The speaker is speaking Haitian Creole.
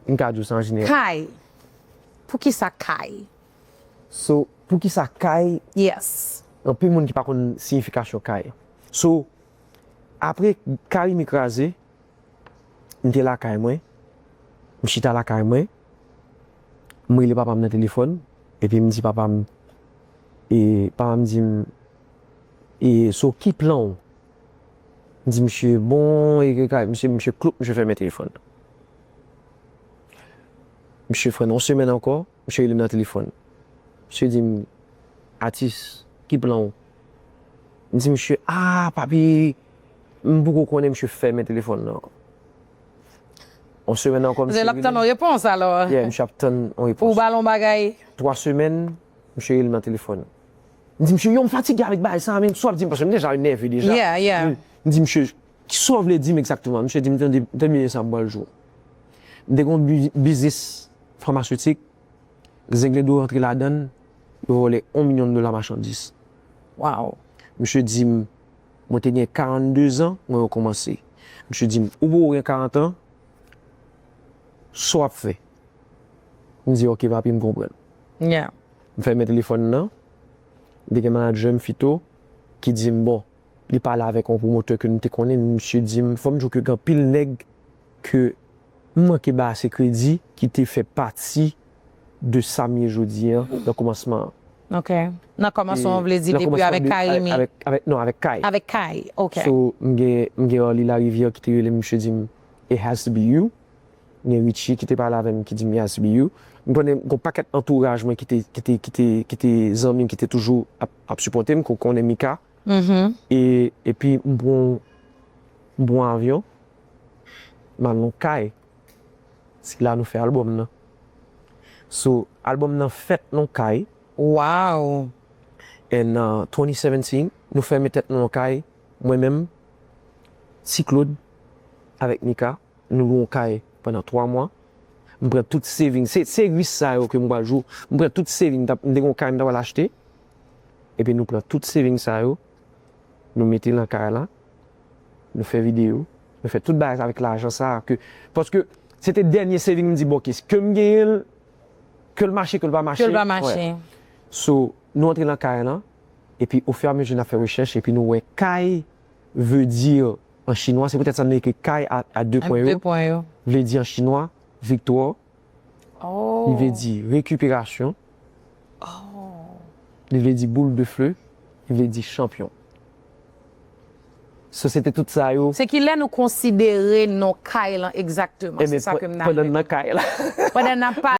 M ka di w sa an jeneral. Kay, Poukisa kay? So, poukisa kay? Yes. Anpil moun ki pa konn siyifikasyon kay. So, apre Carimi kraze, m te lakay mwen, m chita lakay mwen, m rele papa m nan telefòn, epi m di papa m, e papa m di m, e so ki plan w? di misye bon e ke kay misye misye kloup misye fèmen telefòn nan misye fè yon semèn ankò misye relem nan telefòn misye dim atis ki plan ou m di misye aa papi m poko konnen misye fèmen telefòn nan yon semèn ankò misye relem lap tann yon repons alò ye misye ap tann yon repons pou w bal yon bagay 3 semèn misye relem nan telefòn. M di misye, yo m fatige avèk bagay sa a menm, sa w ap di m, paske m deja nève deja. M di misye, ki sa w vle di m egzakteman? Misye di m, tande, tande byen sa m pral di w. M te gen yon biznis famasyotik, zenglendo rantre ladan l, yo vòlè yon milyon dola machandis. Misye di m, mwen te gen 42 zan, mwen rekòmanse. Misye di m, ou poko gen 40 an, sa w ap fè? M di ok papi m konprann. M fèmen telefòn nan, li te gen manadjè m fito ki di m bon li pale avèk yon pwomotè ke m te konnen men misye di m fò m di w ke gen anpil nèg ke m manke bay ase kredi ki te fè pati de sa m ye jodi an nan kòmansman an. Ok. Nan kòmansman an vle di depi avèk Carimi? Avèk non avèk Kay. Avèk Kay, ok. So m gen Arly Larivière ki te rele m misye di m it has to be you Gen Richie ki te pale avè m ki di m Yasbiou, m konnen gen yon pakèt antouraj mwen ki te zanmi m ki te toujou ap sipòte m ke w konnen Mika. Epi m pran yon avyon, m al yon kay, se la nou fè albòm nan. So, albòm nan fèt yon kay. Waww! And 2017, nou fèmen tèt nou yon kay, mwen menm, Ti Claude, avèk Mika. Nou lwe yon kay pandan 3 mwa. M pran tout saving. Se se risk sa yo ke m pral jou. M pran tout saving. M ta m te gen yon kay m ta pral achte. Epi nou pran tout saving sa yo. Nou mete lan kay la. Nou fè video. Nou fè tout bagay sa avèk lajan sa a ke. Paske se te dènye saving m di bon ke s ke m genyen l. Ke l mache ke l pa mache. Ke l pa mache. So nou antre lan kay lan. Epi o fè a mezi n ap fè rechèch epi nou wè kay veu di an chinwa, se poutèt sa nou ekri kay a de pwen yo, vle di an chinwa, viktwa, li vle di rekiperasyon, li vle di boul de feu, li vle di chanpyon. So se te tout sa yo. Se ki lè nou konsidere non kay lan egzakteman? Se sa ke m nan. Pandan n nan kay la. Pandan n ap pale.